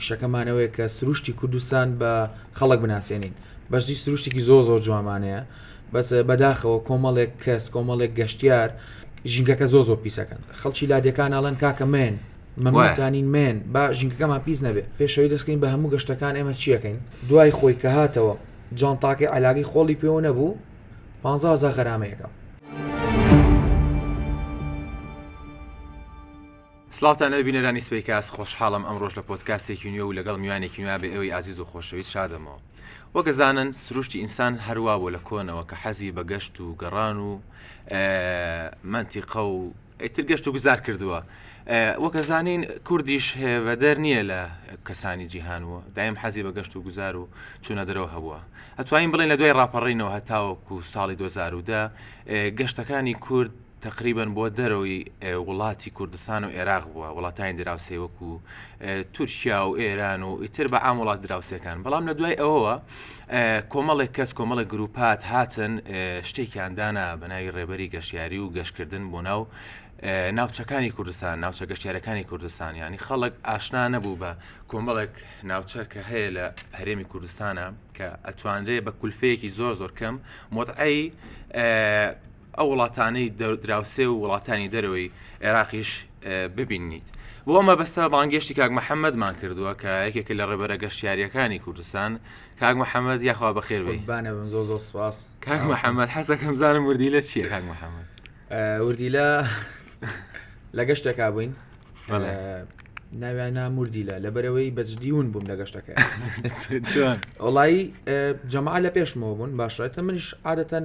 شەکەمانەوەیە کە سروشتی کوردستان بە خەڵک بناسیێنین بەشی سروشتێکی زۆ زۆر جوامانەیە بەس بەداخەوە کۆمەڵێک کەس کۆمەڵێک گەشتیار ژینگەکە زۆ زۆر پیسەکەن خەڵکی لادەکان ناڵەن کاکە من مەموانین من با ژینگەکەمان پیس نەبێت پێشەوەی دەستکەین بە هەموو گەشتەکان ئێمە چیەکەین دوای خۆی کە هاتەوە جانتاکەی علاگەی خۆڵی پێوە نەبوو پانزە هەزار غەرامەیەکە. سڵاوتان لەوێ بینەرانی سپی کاس خۆشحاڵم ئەمڕۆژ لە پۆتکاستێکی نوێ و لەگەڵ میوانێکی نوێ بە ئێوەی ئازیز و خۆشەویست شادەمەوە وەگەزانن سروشتی ئینسان هەروە بۆ لە کۆنەوە کە حەزی بە گەشت و گەڕان و منتیقە و ئیتر گەشت و گوزار کردووە وەک ئەزانین کوردیش هێبەدەر نییە لە کەسانی جیهان و دایم حەزی بە گەشت و گوزار و چوونە دەرەوە هەبووە ئەتوانین بڵێن لە دوای ڕاپەڕینەوە هەتاوەکو ساڵی 2010 گەشتەکانی کورد تقریبان بۆ دەرەوەی وڵاتی کوردستان و عێراق بووە وڵاتانی دراوسێ وەکو تورکیا و ئێران و ئیتر بە ئام وڵات دراوسەکان بەڵام لە دوای ئەوەوە کۆمەڵێک کەس کۆمەڵێک گروپات هاتن شتێکیان دانا بە ناوی ڕێبەری گەشتیاری و گەشتکردن بۆ ناو ناوچەکانی کوردستان ناوچە گەشتارەکانی کوردستان ینی خەڵک ئاشنا نەبوو بە کۆمەڵێک ناوچە کە هەیە لە هەرێمی کوردستانە کە ئەتوانرێ بە کولفەیەکی زۆر زۆر کەم مۆتعی ئەو وڵاتانەی دراوسێ و وڵاتانی دەرەوەی عێراقیش ببینیت بۆ ئەمە بەستە بانگێشتی کاک محەممەدمان کردووە کە یەکێک لە ڕێبەرە گەشتیاریەکانی کوردستان کاک محەممەد یاخوا بەخێربانە بن زۆ زۆ سپاس کاک محەممەد حەزەکەم زانم وردی لە چیە کاک محەممەد وردی لە لە گەشتێکا بووین ناویانە مردی لە لەبەرەوەی بەجدیون بووم لە گەشتەکە وڵی جەما لە پێشمەوە بوون باشێتە منش عادەتەن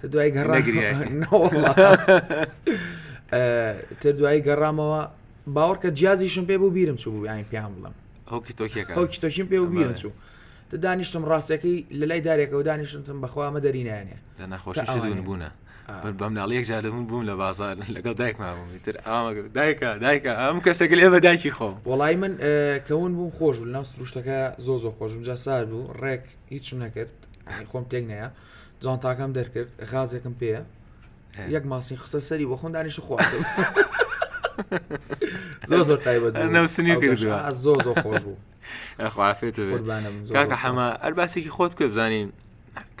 تە دوای گەڕ تە دوای گەڕامەوە باوەڕکە جیازیشم پێ بوو بیرم چوو بوو یاین پێیان بڵم هەوکی تۆکیەکە هەوکی تۆکیم پێ بیرم چوو تە دانیشتم ڕاستەکەی لە لای دارێکەوە دانیشتم بەخوامە دەرینانێ تا نەخۆشیشدون بوونە بەم ناڵیەک جادەبوون بووم لە بازار لەگەڵ دایکمامتر ئامە دایکە دایکە ئەم کەسێک لێ بە دایکی خۆم وڵی من کەون بووم خۆش بوو ناو سروشتەکە زۆ زۆ خۆشم جا سار بوو ڕێک هیچم نەکرد خۆم تێک نەیە جانتاکەم دەرکرد غازێکم پێە یەک ماسی خستە سەری بۆ خۆم دانیش خواردم زۆر زۆر تایبەت نەوسنی کردوە زۆر زۆر خۆش بوو خوافێت کاکە حەمە ئەرباسێکی خۆت پێ بزانین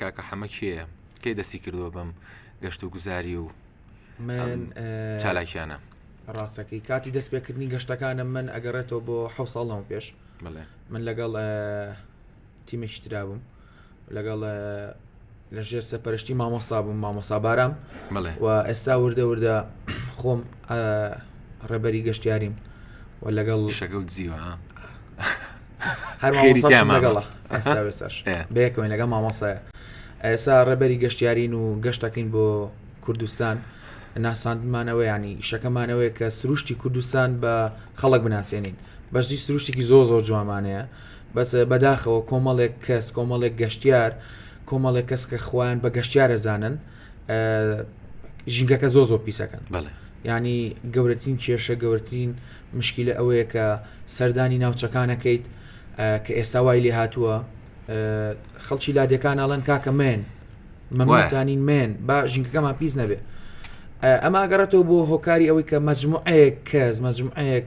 کاکە حەمە کێە کەی دەستی کردووە بەم گەشت و گوزاری و من چالاکیانە ڕاستەکەی کاتی دەست پێکردنی گەشتەکانم من ئەگەڕێتەوە بۆ حوساڵەوە پێش من لەگەڵ تیمێکیترابووم لەگەڵ لە ژێر سەپەرشتی مامۆستا بووم مامۆسا بارام بڵێ و ئێستا وردە وردە خۆم ڕێبەری گەشتیاریم و لەگەڵ شەگەڵ جیوە هەرماگەڵە ئێستاێساش بەیەکەوەی لەگە مامۆسایە ئێسا ڕێبەری گەشتیارین و گەشتەکەین بۆ کوردستان ناساندمانەوە ینی شەکەمانەوەی کە سروشتی کوردستان بە خەڵک بناسیێنین بەشی سروشتێکی زۆ زۆر جوامانەیە بەس بەداخەوە کۆمەڵێک کەس کۆمەڵێک گەشتیار کۆمەڵێک کەس کە خوان بە گەشتیارە زانن ژینگەکە زۆ زۆ پیسەکەن بەڵێ ینی گەورەترین کێشە گەورەترین مشکلە ئەوەیە کە سەردانی ناوچەکانەکەیت کە ئێستا وای لێ هاتووە خەڵکی لادێکان ئاڵەن کاکە مێن مەماتانین مێن با ژینگەکەمان پیس نەبێ ئەمە گەڕێتەوە بۆ هۆکاری ئەوەی کە مەجموعەیەک کەس مەجموعەیەک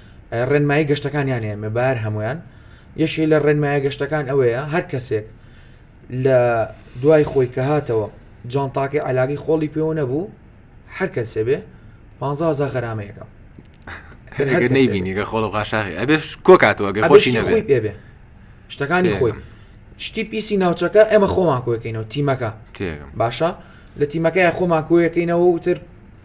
ڕێنمایی گەشتەکانیان هەیە مەبار هەمویان یەکێ لە ڕێنمایە گەشتەکان ئەوەیە هەر کەسێک لە دوای خۆی کە هاتەوە جانتاکەی علاگەی خۆڵی پێوە نەبوو هەر کەسێ بێ 15 غەرامەیەەکە نبینیگە خۆڵ غاشاخی ئەبێش کۆکاتەوە گە خۆشی نەبێ پێبێ شتەکانی خۆی شتی پیسی ناوچەکە ئێمە خۆمان کۆەکەینەوە تیمەکە باشە لە تیمەکەی خۆمان کۆیەکەینەوە وتر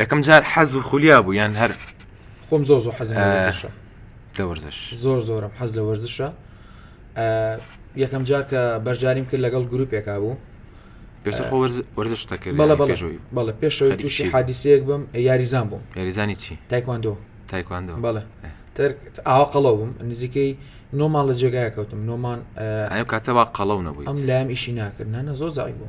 یەکەم جار حەز و خولیا بوو یان هەر خۆم زۆر زۆر حەزم دەوەرزش زۆر زۆرم حەز لە وەرزشە یەکەم جار کە بەرجاریم کرد لەگەڵ گروپێکا بوو پێش وەرزش دەکرد بەڵە پێشەوەی تووشی حادیسەیەک بم یاریزان بووم یاریزانی چی تایکواندۆ تایکواندۆ بەڵێ ئاوا قەڵەو بووم نزیکەی نۆمان لە جێگای کەوتم نۆمان کاتەوا قەڵەو نەبووی ئەم لایم ئیشی ناکردنە زۆر زای بوو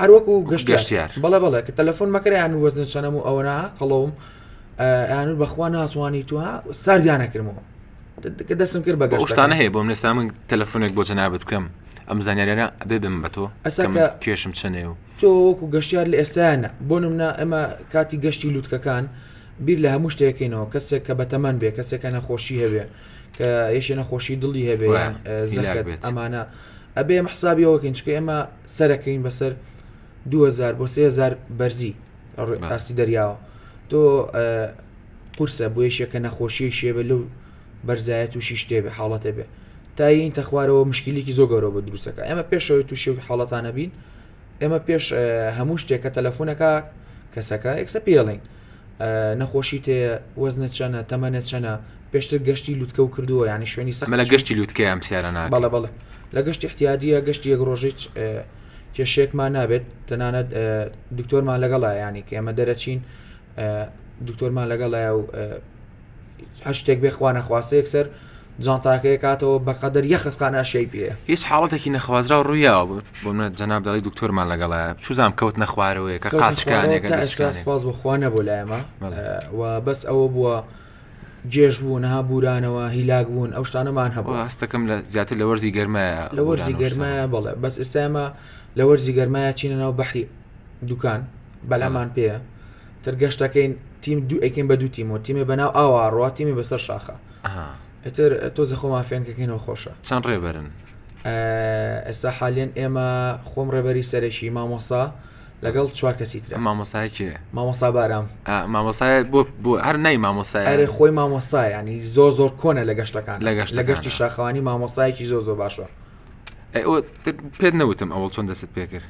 هەروەکو گەشتیار بەڵێ بەڵێ کە تەلەفۆن مەکەیان و وەزن چەنەم و ئەوەنا قەڵەوم یان بەخوا ناتوانانی تو ساردیانەکردمەوە کە دەسم کرد بە گەشتانە هەیە بۆم لەسا من تەلەفۆنێک بۆ جەنابەت بکەم ئەم زانانیانە ئەبێ بم بە تۆ کێشم چەنێ و تۆ وەکو گەشتیار لە ئێستانە بۆ نمنا ئەمە کاتی گەشتی لووتکەکان بیر لە هەموو شتێکینەوە کەسێک کە بەتەمان بێ کەسێکە نەخۆشی هەبێ کە یەشێ نەخۆشی دڵی هەبێ زیلاک بێت ئەمانە ئەبێ حسابیەوەکەین چکە ئێمە سەرەکەین بەسەر دوو هەزار بۆ سێ هەزار بەرزی لە ڕووی بەڵێ. ئاستی دەریاوە تۆ ئە، قورسە بۆ یەکێک کە نەخۆشیی شێبە لەو بەرزایە تووشی شتێ بێ حاڵەتێ بێ تا یەینتە خوارەوە مشکیلێکی زۆ گەورە بۆ درووست ئەکا ئێمە پێش ئەوەی تووشی ئەو حاڵەتانە بین ئێمە پێش ئە، هەموو شتێک کە تەلەفوون ئەکا کەسەکە یەکسە پێی ئەڵێین. نەخۆشیت هەیە؟ وەزنت چەنە؟ تەمەنت چەنە؟ پێشتر گەشتی لوتکە و کردووە یانی شوێنی سەخت مەلە گەشتی لوتکە ئەم سیارە ناکە بەڵێ بەڵێ لە گەشتی احتیادیە گەشتی یەک ڕۆژیت کێشێکمان نابێت تەنانەت دکتۆرمان لەگەڵا ینی کە ئێمە دەرەچین دکتۆرمان لەگەڵایە و هەر شتێک بێخوا نەخواستە یەکسەر جانتاکە یەکاتەوە بەقەدەر یەخە ستا ناشیای پێیە. هیچ حاڵەتێکی نەخوازراو ڕوویاوە بۆ بۆ منە جەناب دەڵی دکتۆرمان لەگەڵایە چوزام کەوتنە خوارەوەیە کە قاچکانێک کە ئێستا سپاس بۆ خوا نەبوو لای ئێمە و بەس ئەوە بووە جێژ بوون ها بورانەوە هیلاک بوون ئەو شتانەمان هەبوو ئەوە هەستەکەم لە زیاتر لە وەرزی گەرمایە لە وەرزی بورانە و شتانە. گەرمایە بەڵێ بەس ئێستا ئێمە لە وەرزی گەرمایە چینە ناو بەحری دوکان بەلامان پێیە تر گەشتەکەین تیم دوو ئەکەین بە دوو تیمەوە تیمێ بەناو ئاوا ڕوا تیمی بەسەر شاخە ئەها ئیتر تۆزێ خۆمان فێنک دەکەینەوە خۆشە چەند ڕێبەرن ئێستا حالیان ئێمە خۆم ڕێبەری سەرەکی مامۆسا لەگەڵ چوار کەسی تر مامۆسای کێ مامۆسا بارام مامۆسای بۆ بۆ هەر نای مامۆسای ئەرێ خۆی مامۆسا ینی زۆر زۆر کۆنە لە گەشتەکان لە گەشت لە گەشتی شاخوانی مامۆسایەکی زۆر زۆر باشە پێت نەوتم ئەوڵ چۆن دەست پێ کرد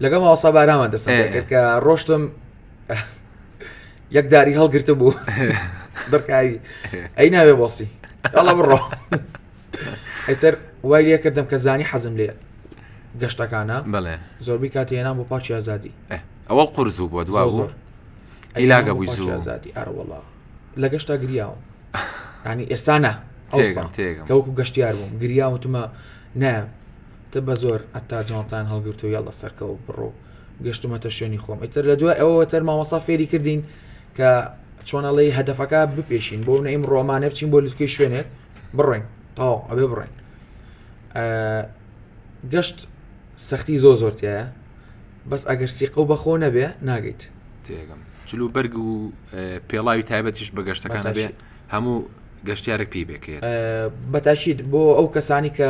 لەگەڵ ماوەسا بارامە دەسەکە ڕۆشتم یەک داری هەڵگرتە بوو دڕکاوی ئەی ناوێ بۆسی ئەڵە بڕۆ ئەتر وای لێ کردم کە زانی حەزم لێ گەشتەکانە بڵێ زۆربی کاتی هێنام بۆ پارچی ئازادی ئەوە قرس بوو بۆ دوا زۆر ئەیلاگە بووی زوو ئازادی ئەرەوەڵا لە گەشتا گریاوم ینی ئێستا نا ئەوسان کەوەکو گەشتیار بووم گریاوتمە نایە تە بەزۆر عەتا جانتایان هەڵگرت و یەڵا سەرکەو و بڕۆ و گەشتمەتە شوێنی خۆم ئیتر لە دوای ئەوەوە تەر مامۆسا فێری کردین کە چۆنەڵی هەدەفەکە بپێشین بۆ نەیم ڕۆمانە بچین بۆ لوتکەی شوێنێک بڕۆین تاو ئەبێ بڕۆین گەشت سەختی زۆ زۆرتیایە بەس ئەگەر سیقە و بەخۆ نەبێ ناگەیت تێگەم جلو بەرگ و پێڵاوی تایبەتیش بە گەشتەکان بێ هەموو گەشتارێک پێی بکرێت بەتاشیت بۆ ئەو کەسانی کە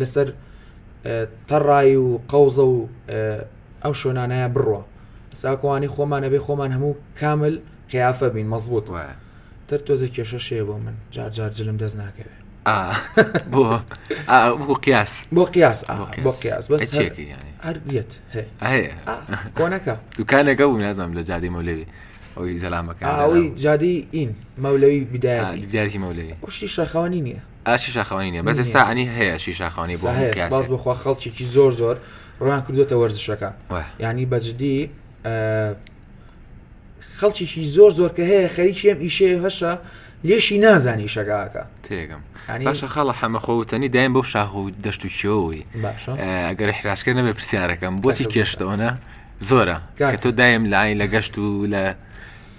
لەسەر تەڕای و قەوزە و ئەو شوێنانەیە بڕوە ساکوانی خۆمانە بێ خۆمان هەموو کامل قیافە بین مەزبوط وایە تر تۆزە کێشە شێ بۆ من جار جار جلم دەست ناکەوێت بۆ بۆ قیاس بۆ قیاس بۆ قیاس بەس هەربیێت کۆنەکە دوکانەکە بوو نازم لە جادی مەولەوی ئەوی زەلامەکە ئەوی جادی ئین مەولەوی بدایەتی مەولەوی شتی شەخەوانی نییە ئاشی شاخەوانی نیە بەس ئێستا ئەنی هەیە شی شاخەوانی بۆ هەیە سپاس پیاسێک بخوا خەڵکێکی زۆر زۆر ڕوان کردوێتە وەرزشەکە واه. ینی بەجددی خەڵکیشی زۆر زۆر کە هەیە خەریکی ئەم ئیشێ هەشە لێشی نازانی شەکاکە تێگەم ینی باشە خاڵە حەمە خۆوتنی دایم بۆ شاخ و دەشت و کێەوەی باشە ئەگەر حراسکە نەبێ پرسیارەکەم بۆچی تاکە کێشتەوەە زۆرە کاکە. کە تۆ دایم لاین لە گەشت و لە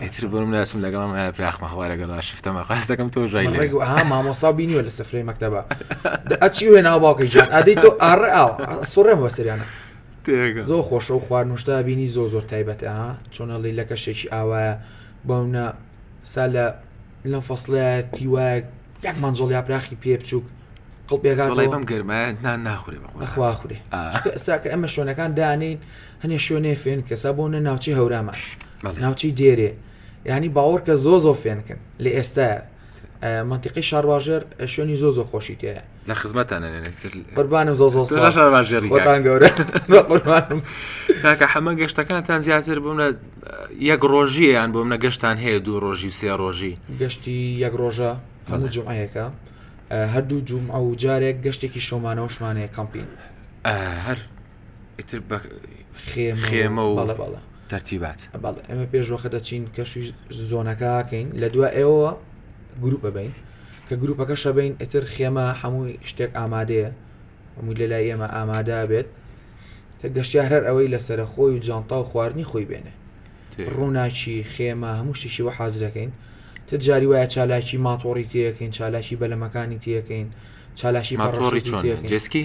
ئیتر بۆ من ناچم لەگەڵم هەیە پراخمە خوا لەگەڵا شفتە مەقاس دەکەم تۆ ژای من لێ ڕێگو ئەها مامۆسا بینیوە لە سفرەی مەکتەبە دە ئەچی وێ ناو باوکەی جان ئادەی تۆ ئاڕ ئاو سوڕێم بۆ سریانە تێگە زۆر خۆشە و خواردنوشتا بینی زۆر زۆر تایبەتە ها چۆنە ڵی لەکە شتێکی ئاوایە بەونە سا لە لەم فەسڵەیە پیوایە یەک مەنجڵ یا پراخی پێ بچووک قڵ بەڵێ بەم پێگاتەوە گەرمایە نان ناخورێ بە قورئان. ئەخوا خورێ آه. ساکە ئەمە شوێنەکان دانین هەنێ شوێنێ فێن کەسا بۆ نە ناوچی هەورامان ناوچەی دێرێ ینی باوەڕکە زۆ زۆ فێنکن لە ئێستا منتیقی شارواژێر شوێنی زۆ زۆ خۆشی تێ لە خزمەتانەربانم زۆ زۆتان گەورە کاکە حەمە گەشتەکانتان زیاتر بووم لە یەک ڕۆژیان بۆم نە گەشتان هەیە دوو ڕۆژی سێ ڕۆژی گەشتی یەک ڕۆژە هەموو جمعەیەەکە هەردوو جوم ئەو جارێک گەشتێکی شۆمانەوەشمانەیە کەمپین هەر ئیتر بە خێمە و تەرتیبات بەڵێ ئەمە پێش وەخە دەچین کەشی زۆنەکەکەین لە دو ئێوە گروپە بین کە گروپەکە شەبین ئیتر خێمە هەمووی شتێک ئامادەیە هەمووی لە لای ئێمە ئامادا بێت کە گەشتیار هەر ئەوەی لەسرە خۆی و جانتا و خواردنی خۆی بێنێ ڕووناچی خێمە هەموو شتیشی وە حازرەکەین تە جاری وایە چالاکی ماتۆڕی تەکەین چالاکی بەلەمەکانی تەکەین چالاکی ماتۆڕی جسکی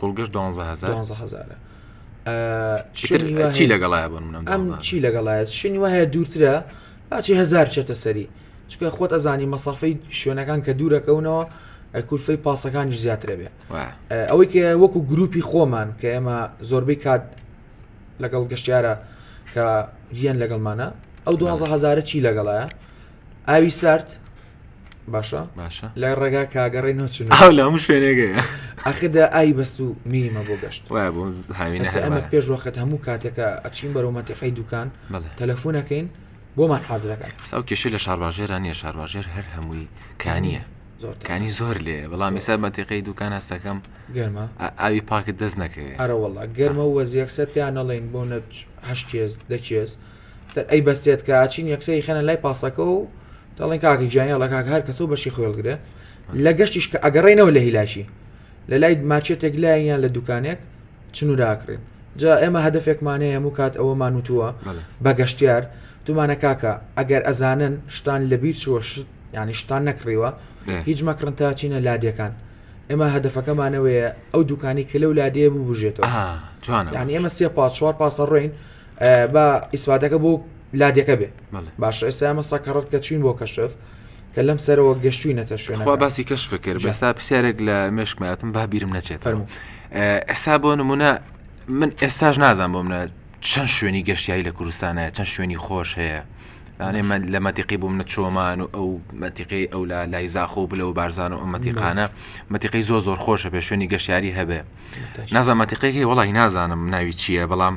کوڵگەش دوانزە هزار دوانزە هزارە ئیتر شوێنی وا چی هەیە- لەگەڵایە بۆ منم ئەم چی لەگەڵایە شوێنی وا هەیە دوورترە باچی هزار چێتە سەری چکە خۆت ئەزانی مەسافەی شوێنەکان کە دوورەکەونەوە ئە کولفەی پاسەکانی زیاترە بێ ئەوەی کە وەکو گروپی خۆمان کە ئێمە زۆربەی کات لەگەڵ گەشتیارە کە ڤیان لەگەڵمانە ئەو دوازە هزارە چی لەگەڵایە ئاوی سارد باشە باشە لای ڕێگا کاگەڕێ نوچن ئاو لە هەموو شوێنێگەیە ئەخدا ئای بەست و میمە بۆ گەشت وای بۆ هاوینە ئەسە ئەمە هەربایە. پێش وەخت هەموو کاتێکە ئەچین بەرەو مەتەقەی دوکان بەڵێ. تەلەفۆنەکەین بۆمان حازرەکەن بەس ئەو کێشەی لە شارباژێرا نییە شارباژێر هەر هەمووی کانیە زۆر تەنگە. کانی زۆر لێ بەڵام ئێستا مەتیقەی دوکان هەستەکەم گەرمە ئا- ئاوی پاکت دەست نەکەوێت ئەرە وەڵا گەرمە وەزیەکسە پێیان نەڵێن بۆ نەچ هەشت کێز دە کێز ئەی بەستێت کە چین یەکسەری خەنە لای پاسەکە و دەڵێن کاکی گیانی لە کاک هەر کەسە و بەشی خوێڵگرێ لە گەشتیش کە ئەگەڕێنەوە لە هیلاشی لە لای ماچێتێک لایەن لە دوکانێک چنوراکرێن جا ئێمە هەدفێکمان هەیە هەموو کات ئەوەمان وتووە بە گەشتیار دومانە کاکە ئەگەر ئەزانن شتان لە بیر چوە شت ینی شتان نەکڕیوە هیچ مەکڕن تا چینە لادەکان ئێمە هەدفەکەمانەوەیە ئەو دوکانی کە لەو لادەیە ببژێتەوە جوان ینی ئێمە سێ پاچوار پاسەڕۆین با ئیسفاتەکە بۆ لادەکە بێ باشە ئێستا ئەمە سەکەڕەت کە چوین بۆ کەشف کە لەم سەرەوە گەشتوی نەتە شوێنخوا باسی کەش فکر بەستا پرسیارێک لە مێشکماتم با بیرم نەچێت ئەسا بۆ نمونە من ئێستاش نازان بۆ منە چەند شوێنی گەشتیاری لە کوردستانە چەند شوێنی خۆش هەیە ئەێ من لە مەتیقی بووم نە چۆمان و ئەو مەتیقی ئەو لا لای زاخۆ بلە و بارزان و ئەو مەتیقانە مەتیقی زۆ زۆر خۆشە پێ شوێنی گەشتیاری هەبێ نازان مەتیقێکی وڵی نازانم ناوی چییە بەڵام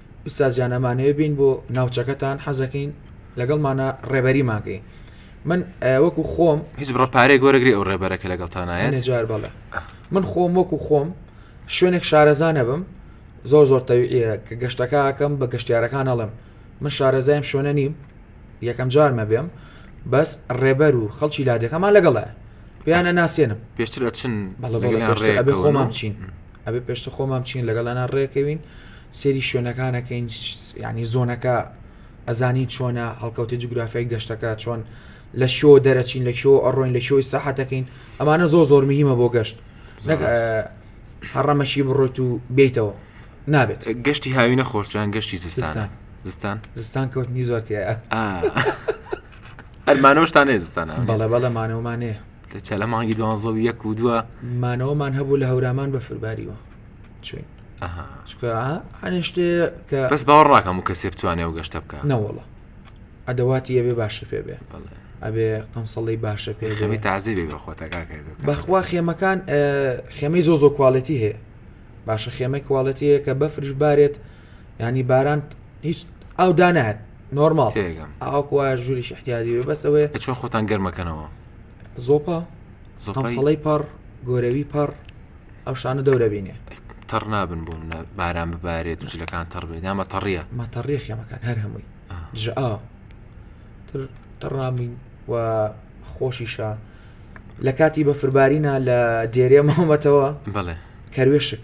ئوستاز جان ئەمانەوێ بین بۆ ناوچەکەتان حەزەکەین لەگەڵمانە ڕێبەریمان کەی من وەکو خۆم هیچ بڕە پارێ گۆرەگری ئەو ڕێبەرەکە لەگەڵتانایە نەجار بەڵێ من خۆم وەکو خۆم شوێنێک شارەزانە بم زۆر زۆر تەویە کە گەشتەکەکەم بە گەشتارەکان ئەڵم من شارەزایم شوێنە نیم یەکەم جارمە بێم بەس ڕێبەر و خەڵکی لادەکەمان لەگەڵە پێیانە ناسێنم پێشتر ئەچن بەڵێ خۆمان بچین ئەبێ پێشتر خۆمان بچین لەگەڵ ئەنا ڕێکەوین سێری شوێنەکانەکەین ینی زۆنەکە ئەزانی چۆنە هەڵکەوتی جوگرافیای گەشتەکە چۆن لە شۆ دەرەچین لە شۆ ئەڕۆین لە شۆی ساحەتەکەین ئەمانە زۆ زۆر مهمە بۆ گەشت هەڕەمەشی بڕۆیت و بیتەوە نابێت گەشتی هاوینە خۆشیان گەشتی زستان زستان زستان کەوتنی زۆرتیە ئەرمانۆشتان نێزستان بەڵێ بەڵێمانەوەمانێ چ لە مانگی دوانزە و یەک و دووە مانەوەمان هەبوو لە هەورامان بە فرباریوە چین چکە هەێ شتێ کە بەس باوەڕاکەم و کەسێ بتوانێ و گەشتە بکە نەوەڵە ئەدەواتی ئەبێ باشی پێ بێ ئەبێ قەمسەڵی باشە پێ خێمی تازی بێ بە خۆتەکە بەخوا خێمەکان خێمەی زۆ زۆ کوالەتی هەیە باشە خێمەی کوالەتیەیە کە بەفرش بارێت ینی باران هیچ ئەو دانات نۆرمال تێگەم ئاوکو وایە ژووری شحتیادی وێ بەس ئەوەیە چۆن خۆتان گەرمەکەنەوە زۆپا زۆپەڵی پەڕ گۆرەوی پەڕ ئەو شانە دەورە بینێ تەڕ نابن بۆ منە باران ببارێت و جلەکان تەڕ بێت نامە تەڕیە مەتەڕیە خێمەکان هەر هەمووی دژ ئا تر تەڕامین و خۆشیشە لە کاتی بەفربارینە لە دێرێ مامەتەوە بڵێ کەروێشک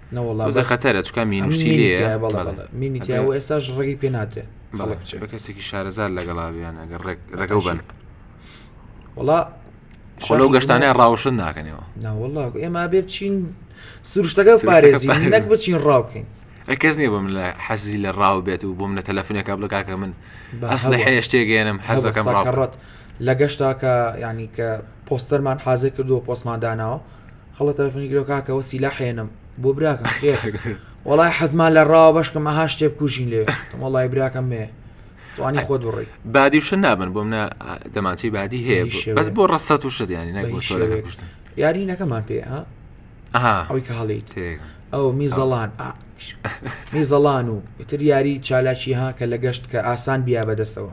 نەوەڵازە خەتەرە چکە مینشتی مینیتیاوە ئێستاش ڕێگەی پێ ناتێ بە کەسێکی شارەزار لەگەڵا بێن ئەگەر ڕێگە بن وڵا خۆلو گەشتانە ڕاوشن ناکەنەوە ناوەڵا ئێمە بێ بچین سروشتەکە پارێزی نەک بچین ڕاوکەین کەس نیە بم لە حەزی لە ڕاو بێت و بووم لە تەلەفونەکە بڵ کاکە من ئەسلە هەیە شتێگەێنم حەزەکەم ڕاڕەت لە گەشتاکە ینی کە پۆستەرمان حازێ کردو پۆستمان داناوە هەڵە تەلەفۆنی گرەوە کاکە وە سیلا حێنم بۆ براکەم خێر وڵای حەزمان لە ڕاوە بەشکم ئەها شتێ بکوژین لێ وڵای براکەم مێ توانی خۆت بڕی بادی وشە نابن بۆ منە دەمانچەی بادی هەیە بەس بۆ ڕەسەت و شدیانی نەگوشتن یارینەکەمان پێ ها ئەوی کە هەڵیت ئەو میزەڵان میزەڵان و تر یاری چالاکی ها کە لە گەشت کە ئاسان بیا بەدەستەوە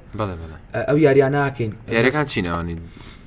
ئەو یاریانناکەین یارەکان چینەوانی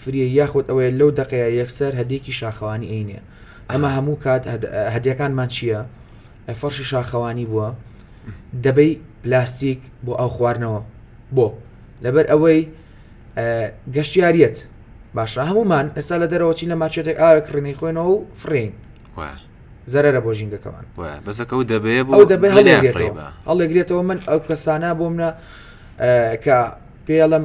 فریە یاخود ئەوەیە لەو دەقەیە یەکسەر هەدێکی شاخەوانی ئەینێ ئەمە هەموو کات هەدیەکانمان چییە فەرشی شاخەوانی بووە دەبەی پلاستیک بۆ ئەو خواردنەوە بۆ لەبەر ئەوەی گەشتیاریەت باشە هەمومان ئێستا لە دەرەوە چین لە ماچێتێک ئاوێک ڕێنی خۆێنەوە و فرین زەرە بۆ ژینگەکەمان بەسەکە و دەبێ بۆ دەبێ هەڵێگرێتەوە من ئەو کەسانە بۆ منە کە پێڵم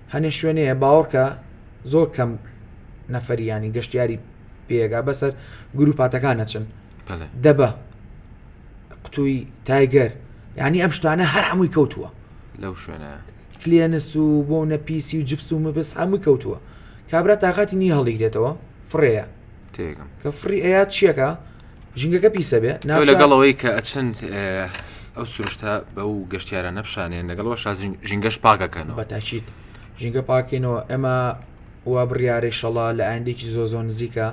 هەنێ شوێنێ باوەڕکە زۆر کەم نەفەری یانی گەشتیاری پێگا بەسەر گروپاتەکان نەچن دەبە قوتووی تایگەر ینی ئەم شتانە هەر هەمووی کەوتووە لەو شوێنە کلێنس و بۆ نەپیسی و جپس و مەبس هەمووی کەوتووە کابرا تااقاتی نی هەڵیگرێتەوە فڕەیە کە فڕی ئەیات چیەکە ژینگەکە پیسە بێ ناو لەگەڵ ئەوەی کە ئەچند ئەو سروشتە بە و گەشتیارە نەپشانێن لەگەڵەوە شازین ژینگەش پاکەکەنەوە بەتاچیت ژینگە پاکەینەوە ئەمە وا بڕیارەی شەڵا لە ئاندێکی زۆ زۆ نزیکە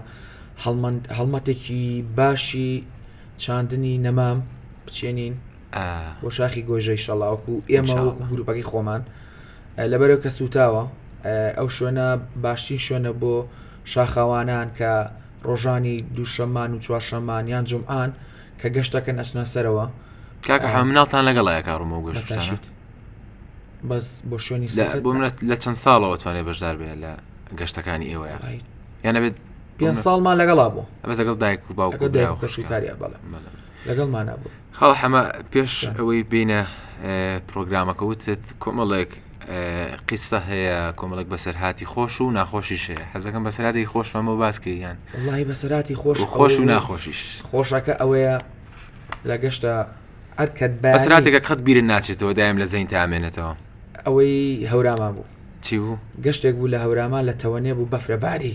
هەڵمەتێکی باشی چاندنی نەمام بچێنین بۆ شاخی گۆژەی شەڵاوکو ئێمە گروپەکەی خۆمان لەبەرەوە کە سووتاوە ئەو شوێنە باشترین شوێنە بۆ شاخەوانان کە ڕۆژانی دووشەمان و چوارشەمان یان جمعان کە گەشتەکەن ئەچنە سەرەوە کاکە حە مناڵتان لەگەڵ ئاکە ڕمە و گەشتانە بەس بۆ شوێنی بۆ منەت لە چەند ساڵەوە توانێ بەشدار بێت لە گەشتەکانی ئێوە یانە بێت پێ ساڵمان لەگەڵا بوو ئەمە لەگەڵ دایک و باوکە داوکەشکاریا بەڵێ لەگەڵمانە بوو کاڵ حەمە پێش ئەوەی بینە پرۆگرامەکە وتت کۆمەڵێک قیسە هەیە کۆمەڵێک بەسەرهاتی خۆش و ناخۆشیش هەیە حەزەکەم بەسەراتی خۆشمەمە باسکەیان وڵی بەسەراتی خۆش خۆش و ناخۆشیش خۆشەکە ئەوەیە لە گەشتە ئەرکەت بەسراتێکە قەت بیرە ناچێتەوە دایم لە زەین تامێنێتەوە ئەوەی هەورامان بوو چی بوو گەشتێک بوو لە هەورامان لە تەوەێ بوو بەفرەباری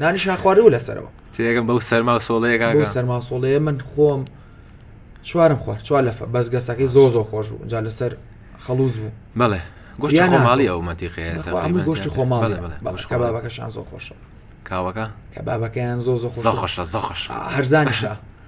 نانیشان خوارد و لەسەرەوە تێگەم بەو سەرما و سۆڵەیە بۆ کاکە سەرماسۆڵەیە من خۆم چوارم خوارد چوار لەفە بەس گەسەکەی زۆ زۆ خۆش بوو جا لەسەر خەڵوز بوو بەڵێ گۆشتی یانا خۆماڵی بۆ. ئەو مەنتیقەیە بەخوا تەقریبەن هەمووی گۆشتی زیاتر. خۆماڵ بەڵێ بەڵێ گۆشت خۆماڵی. کەبابەکەشان زۆ خۆشە کاوەکە کەبابەکەیان زۆ زۆ زۆ خۆشە خۆشە زۆ خۆشە هەرزانیشە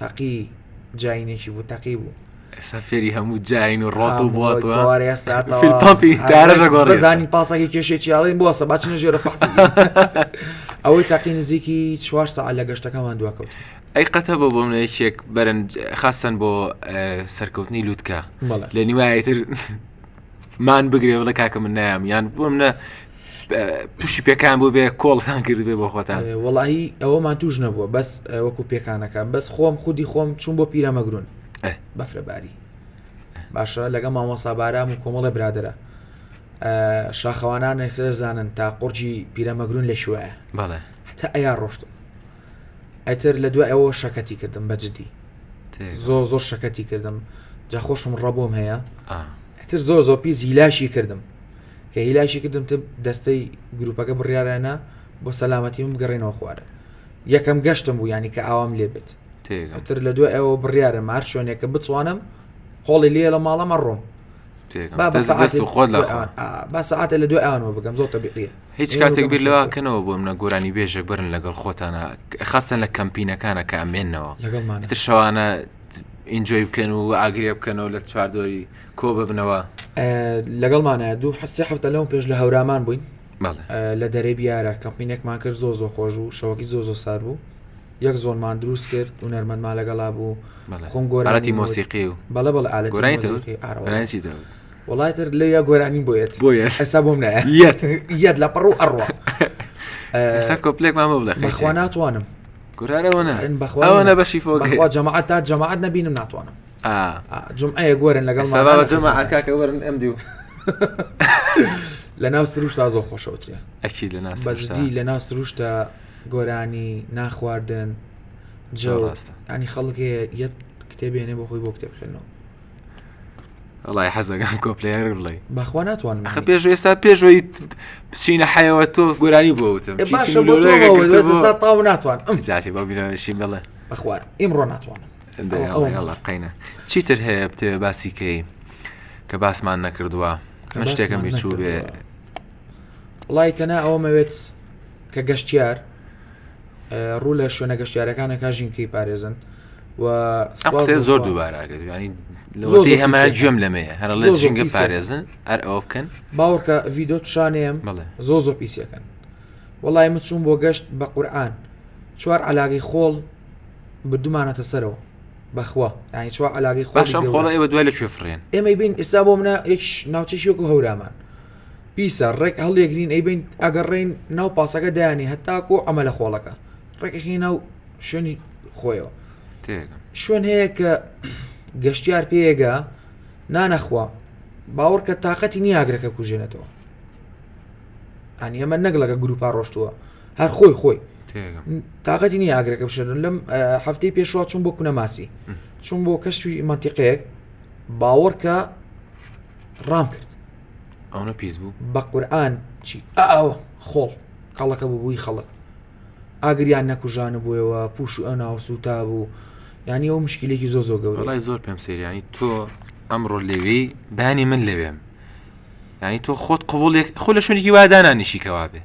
تەقی جینێکی بوو تەقی بوو ئێستا فێری هەموو جین و ڕۆت و بۆتوەزانی پاسەکە کێشێ چیاڵی بۆسە باچنە ژێرە پاس ئەوەی تاقی نزیکی چوار ساعت لە گەشتەکەمان دواکەوت ئەی قەتە بۆ بۆ منێکێک بەرنج خاستن بۆ سەرکەوتنی لووتکە لە نیوایتر مان بگرێ بڵێ کاکە من نایام یان بۆم نە پشی پێکان بۆ بێ کۆڵتان کردبێ بۆ خۆتان وڵی ئەوەمان توش نەبووە بەس وەکو پێکانەکە بەس خۆم خودی خۆم چون بۆ پیرەمەگرون بەفرەباری باشە لەگە مامۆسا بارام و کۆمەڵە برادرە شاخەوانانێک خێزانن تا قڕجی پیرەمەگرون لە شوێ بەڵێ هەتا ئەیا ڕۆشتن ئەتر لە دوای ئەوە شەکەتی کردم بە جدی زۆر زۆر شەکەتی کردم جا خۆشم ڕەبووم هەیە ئەتر زۆر زۆر پیس هیلاشی کردم کە هیلاشی کردم تب دەستەی گروپەکە بڕیاەنە بۆ سەلامەتی من بگەڕێنەوە خوارە یەکەم گەشتم بوو ینی کە ئاوام لێ بێت ئەتر لە دوای ئەوە بڕیاە مار شوێنێکە بتوانم قۆڵی لێ لە ماڵەمە ڕۆم بە سعاتە لە دوای ئەوانەوە بگەم زۆر تەبیقیە هیچ کاتێک بیر لەوا کەنەوە بۆ منە گۆرانی بێژە برن لەگەڵ خۆتانە خستن لە کەمپینەکانە کە ئەمێنەوە لەگەڵمانتر شەوانە ئینجۆی بکەن و ئاگرێ بکەنەوە لە چواردۆری کۆ ببنەوە لەگەڵمانە دوو حسێ هەفتە لەو پێش لە هەورامان بووین لە دەرەی بیارە کەمپینێکمان کرد زۆ زۆ خۆش و شەوەکی زۆ زۆ سار بوو یەک زۆنمان دروست کرد و نەرمەمان لەگەڵا بوو خۆم گۆراتی مۆسیقی و بەڵە بەڵ ئالەتی وەڵای تر لێ یا گۆرانی بۆ یەت بۆ یەت ئەسا بۆم نایە یەت یەت لە پڕ و ئەڕوا ئەسا کۆپلێکمان بۆ بڵێ خوا ناتوانم گورارەوەە بەخواوانە بەشی فۆگەخوا جەماعات تا جەماعات نبینم ناتوانم جمعەیە گۆرن لەگەڵ جەماعاتکاکە وەرن ئەم دیو لە ناو سروش تا زۆ خۆشەوترێ ئەکی لە ناس بەجدی لە ناو سروشتە گۆرانی ناخواردن جەڕاستە ئەنی خەڵک یەت کتێبێنێ بۆ خۆی بۆ کتێب خوێنەوە وڵی حەزەکان کۆپلەیەر بڵێ بەخوا ناتوانم ئەخە پێش ئێستا پێشەوەی بچینە حەیەوە تۆ گۆرانی بۆ وتم باشە تاو ناتوان ئەم جاتی بە بیرانشی بڵێ بەخوا ئیمڕۆ ناتوانم قینە چیتر هەیە بتێ باسی کەی کە باسمان نەکردووە من شتێکم بیرچوو بێ وڵی تەنا ئەوەمەوێت کە گەشتیار ڕوو لە شوێنە گەشتیارەکان دەکات ژینکەی پارێزن و قسەیە زۆر دووبارە ئەگەر ینی لەوەی هەمان گوێم لەمەیە هەر لە ژینگە پارێزن هەر ئەوە بکەن باوەڕکە ڤیدۆ پیشانەیەم زۆ زۆ پیسەکەن وڵی من چوون بۆ گەشت بە قورآان چوار علاگەی خۆڵ بدومانەتە سەرەوە بەخوا ینی چوار علاگەی خۆشم خۆڵ ئێوە دوای لە کوێ فرێن ئێمەی بین ئێستا بۆ منە یەکش ناوچەشیۆک و هەورامان پیسە ڕێک هەڵیەگرین ئەیبەین ئەگەڕێین ناو پاسەکە دایانین هەتاکۆ ئەمە لە خۆڵەکە ڕێکەکەی ناو شوێنی خۆیەوە تێگەم شوێن هەیە کە گەشتیار پێگە نانەخوا باوەڕکە تااقەتی نیاگرەکە کوژێنێتەوە ئەنی ئەمە نەک لەگە گروپا ڕۆشتووە هەر خۆی خۆی تێگەم تااقەتی نی ئاگرەکە بشێن لەم ئە، هەفتەی پێشوا چوون بۆ کونەماسی چوون بۆ کەشوی مەتیقەیەک باوەڕکە ڕام کرد ئەونە پیس بوو بە قورآن چی ئاوە خۆڵ کەڵەکە ببووی خەڵک ئاگریان نەکوژانە بووەوە پوش و ئەو ناو سووتا بوو ینی ئەو مشکلێکی زۆ زۆ گەورەڵی زۆر پێم سریانی تۆ ئەمڕۆ لەوێ بانی من لەوێم ینی تۆ خۆت قوڵێک خۆ لە شوێنێکی وادانانیشی کەوا بێ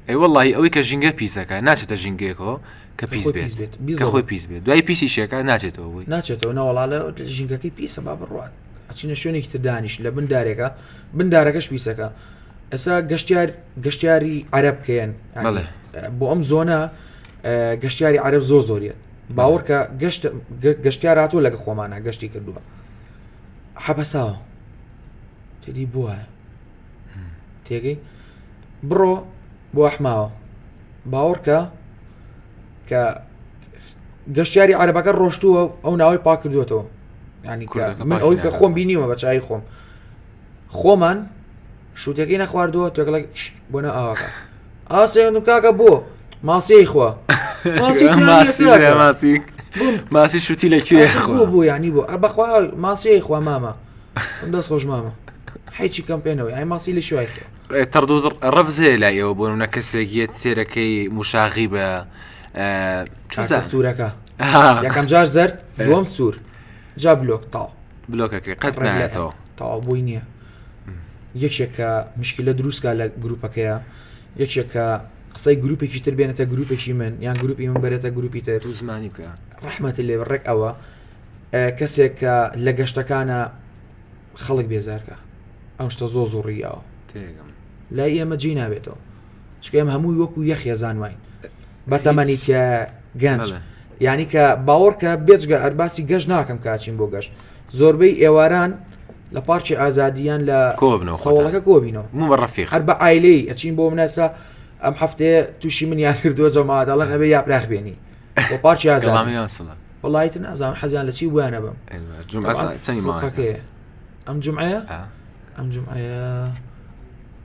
ئەی وڵی ئەوەی کە ژینگە پیسەکە ناچێتە ژینگەیەکەوە کە پیس بێت خۆی پیس بێت دوای پیسی شێکە ناچێتەوە بووی ناچێتەوە ناوەڵالە ژینگەکەی پیسە با بڕات ئەچینە شوێنێکی تر دانیش لە بن دارێکە بن دارەکەش پیسەکە ئەسا گەشتار گەشتیاری عرب کەن بۆ ئەم زۆنە گەشتیاری عرب زۆ زۆریت باوەڕکە گەشت گەشتاراتۆ لەگە خۆمانە گەشتی کردووە حەبەساوە تێدی بووە تێگەی بڕۆ بۆ ئەحماوە باوەڕکە کە گەشتیاری عربەکە ڕۆشتووە ئەو ناوەی پاکردوێتەوە ینی من ئەوی کە خۆم بینیوە بە چای خۆم خۆمان شووتەکەی نەخواردووە تێکڵک بۆنە ئاواکە ئاسێن و کاکە بۆ ماسیی خوا ماسی شوتی لە کوێ خۆ بوو ینی بۆ بەخوا ماسیی خوا مامە دەست خۆش مامە حیچی کەم پێێنەوە ئای ماسی لە شوای تەڕدو ڕەفزەیە لای ئەوە بۆ منە کەسێکیت سێرەکەی مشاغی بە چزە سوورەکە یەکەم جار زرد دوم سوور جا بلۆک تاو بلۆکەکە قەت نایەتەوە تاو بووی نییە یەکێکە مشکلە دروستکە لە گروپەکەیە یەکێکە قسەی گروپێکی تر بێنێتە گروپێکی من یان گروپی من بێتە گروپی تر تو زمانی بکە ڕحمەتی لێ ڕێک ئەوە کەسێک کە لە گەشتەکانە خەڵک بێزارکە ئەم شتە زۆ زۆڕیەوە لای ئێمە جی نابێتەوە چکە ئێمە هەمووی وەکو یە خێزان واین بە تەمەنی کە گەنج یعنی کە باوەڕکە بێجگە ئەرباسی گەشت ناکەم کاچین بۆ گەشت زۆربەی ئێواران لە پارچی ئازادیان لە کۆبنەوە خەوڵەکە کۆبینەوە من بە ڕفی هەر بە ئایلەی ئەچین بۆ منەسا ئەم هەفتەیە تووشی من یان کردووە جەماداڵن ئەبێ یا پراخ بێنی بۆ پارچی ئازامیان سڵە وڵایت نازان حەزیان لە چی بوویانە بم ئەم جمعە ئەم جمعە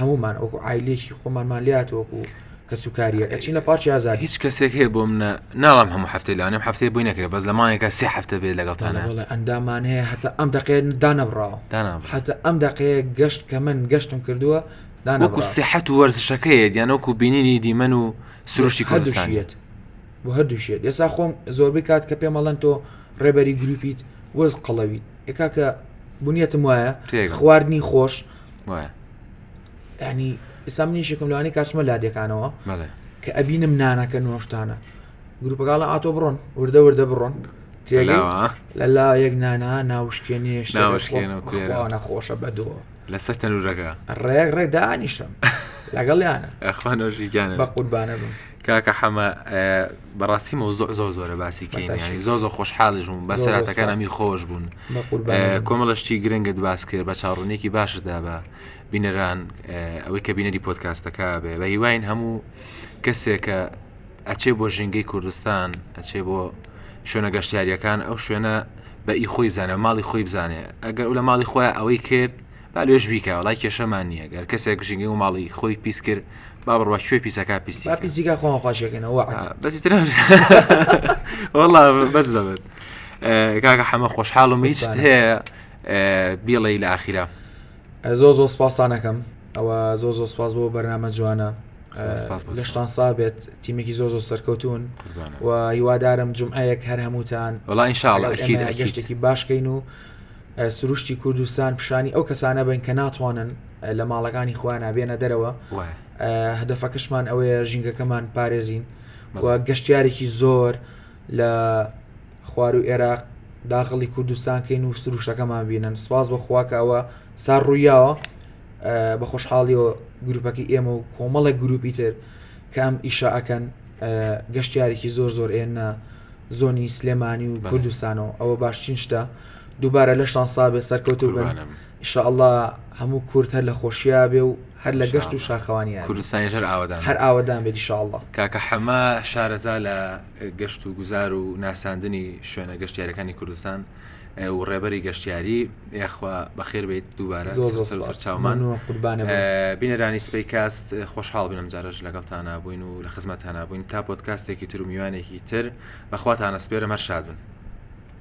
هەمومان وەکو ئایلێکی خۆمانمان لات وەکو کەس و کاریەکە چینە پارچی ئازادی هیچ کەسێک هەیە بۆ منە ناڵام هەموو هەفتەی لانم هەفتەی بۆی نەکرێت بەس لە ماەکە سێ هەفتە بێت لەگەڵتانە بڵێ ئەندامان هەیە هەتا ئەم دەقێن دانەبراوە هەتا ئەم دەقەیە گەشت کە من گەشتم کردووە دانەکو سیحەت وەرزشەکەیە دیانەوەکو بینینی دیمەن و سروشتی کوردستانیت بۆ هەردووشێت ئێسا خۆم زۆربەی کات کە پێمەڵەن تۆ ڕێبەری گروپیت وەز قەڵەوی ئێکا کە بنیەتم وایە خواردنی خۆش وایە ینی ئستا من یشێکم لەوانی کاچمە لادەکانەوە کە ئەبینم نانەکە نۆشتانە گروپەکڵە ئاتۆ بڕۆن وردە وردە بڕۆن لە لا یەک نانا ناوشکێنێش ناوشکێنەخۆشە بەدۆ لەسەر تەنورەکە ڕێک ڕێک دانیشم لەگەڵیانە ئەخوانۆژیگیانە بە قوربانە بم کاکە حەمە بەڕاستی مەوزوع زۆر زۆرە باسی کەینیانی زۆ زۆ خۆشحاڵش بووم بەسەراتەکان ئەمی خۆش بوون کۆمەڵشتی گرنگت باس کرد بە چاڕونێکی باشدا بە بینەران ئەوەی کە بینەری پۆتکاستەکە بێ بە هیواین هەموو کەسێکە ئەچێ بۆ ژینگەی کوردستان ئەچێ بۆ شوێنە گەشتیاریەکان ئەو شوێنە بە ئی خۆی بزانە ماڵی خۆی بزانێ ئەگەر لە ماڵی خۆیان ئەوەی کرد با لوێش بیکا وەڵای کێشەمان نیە گەر کەسێک ژینگەی و ماڵی خۆی پیس کرد با بڕوا کوێ پیسەکە پیسی با پیسیکا خۆمان خۆشێکنە وەعد بەسی تر وەڵا بەس دەبێت کاکە حەمە خۆشحاڵم هیچ هەیە بیڵێ لە ئاخیرا زۆ زۆ سپاسانەکەم ئەوە زۆ زۆ سپاس بۆ بەرنامە جوانە لەشتان سابێت تیمێکی زۆ زۆ سەرکەوتون و هیوادارم جمعەیەک هەر هەمووتان وڵا انشاءڵ گەشتێکی باشکەین و سروشتی کوردستان پیشانی ئەو کەسانە بن کە ناتوانن لە ماڵەکانی خۆیانە بێنە دەرەوە هەدەفەکەشمان ئەوەیە ژینگەکەمان پارێزین و گەشتارێکی زۆر لە خوار و عێراق داخڵی کوردستان کەین و سروشتەکەمان بینن سپاس بە خواکە ئەوە سار ڕوویاوە بە خۆشحاڵیەوە گروپەکە ئێمە و کۆمەڵێک گروپی تر کە ئەم ئیشە ئەکەن گەشتارێکی زۆر زۆر ئێنە زۆنی سلێمانی و کوردستانەوە ئەوە باشترین شتە دووبارە لەشتان سابێ سەرکەوتوو بن قوربانم. ان شاء اللە هەموو کورد هەر لە خۆشیا بێ و هەر لە گەشت و انشاءاللە. شاخەوانیا بێ کوردستانیش هەر ئاوەدان هەر بێت. ئاوەدان بێت ان شاء اللە. کاکە حەمە شارەزا لە گەشت و گوزار و ناساندنی شوێنە گەشتیارەکانی کوردستان و ڕێبەری گەشتیاری یاخوا بەخێر بێیت دووبارە زۆر زۆر سەرو سوپاس سەرچاومان مەمنونم قوربانت بم. بینەرانی سپەی کاست خۆشحاڵ بن ئەمجارەش لەگەڵتانا بووین و لە خزمەتتانا بووین تا پۆدکاستێکی تر و میوانێکی تر بەخواتان ئەسپێرم هەر شاد بن.